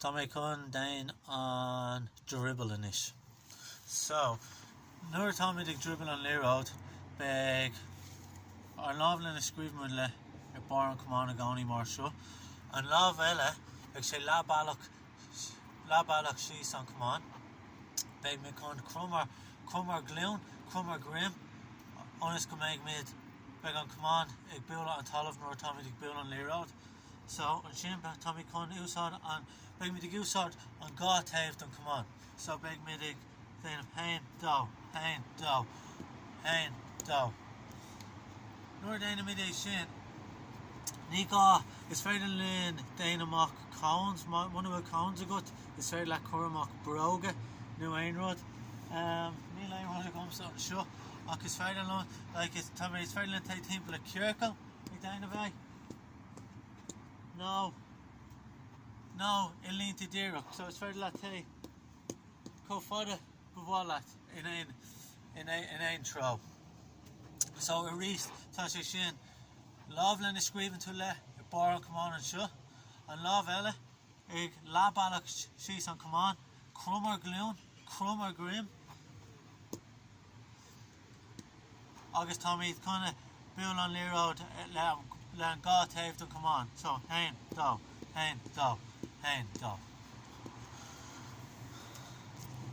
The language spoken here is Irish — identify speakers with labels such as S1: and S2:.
S1: Tá mé chun déan an drioball anois. So, nuair atáimid ag driobaill an liathróid beidh ár lámh lena scríobhann muid le ar barr an chamáin i gcónaí mar seo, an lámh eile beidh sé leathbhealach leathbhealach síos an chamáin. Beidh muid chun crom ár crom ár nglúin, crom ár ndroim ionas go mbeidh muid beidh an camán ag bualadh an talamh nuair atáimid ag bualadh an liathróid. So, ansin táimid chun úsáid an, beidh muid ag úsáid an dhá taobh don camán. So, beidh muid ag déanamh haon, dó, haon, dó, haon, dó. Nuair a déanann muid é sin, ní gá, is féidir linn déanamh amach cones, muna bhfuil cones agat, is féidir leat cur amach bróga nó aon rud. Níl aon rud agamsa anseo ach is féidir liom, like, tá mé, is féidir linn téigh timpeall i ciorcal ag déanamh é. nó nó i línte díreach so is féidir leat téigh chomh fada ba mhaith leat in aon in aon treo. So arís tá sé sin lámh lena scríobhann tú le ar barr an chamáin anseo, an lámh eile ag leathbhealach síos an chamáin, crom ár nglúin, crom ár ndroim. agus táimid chun a buail an liathróid le an dhá taobh don camán so haon, dó, haon, dó, haon, dó.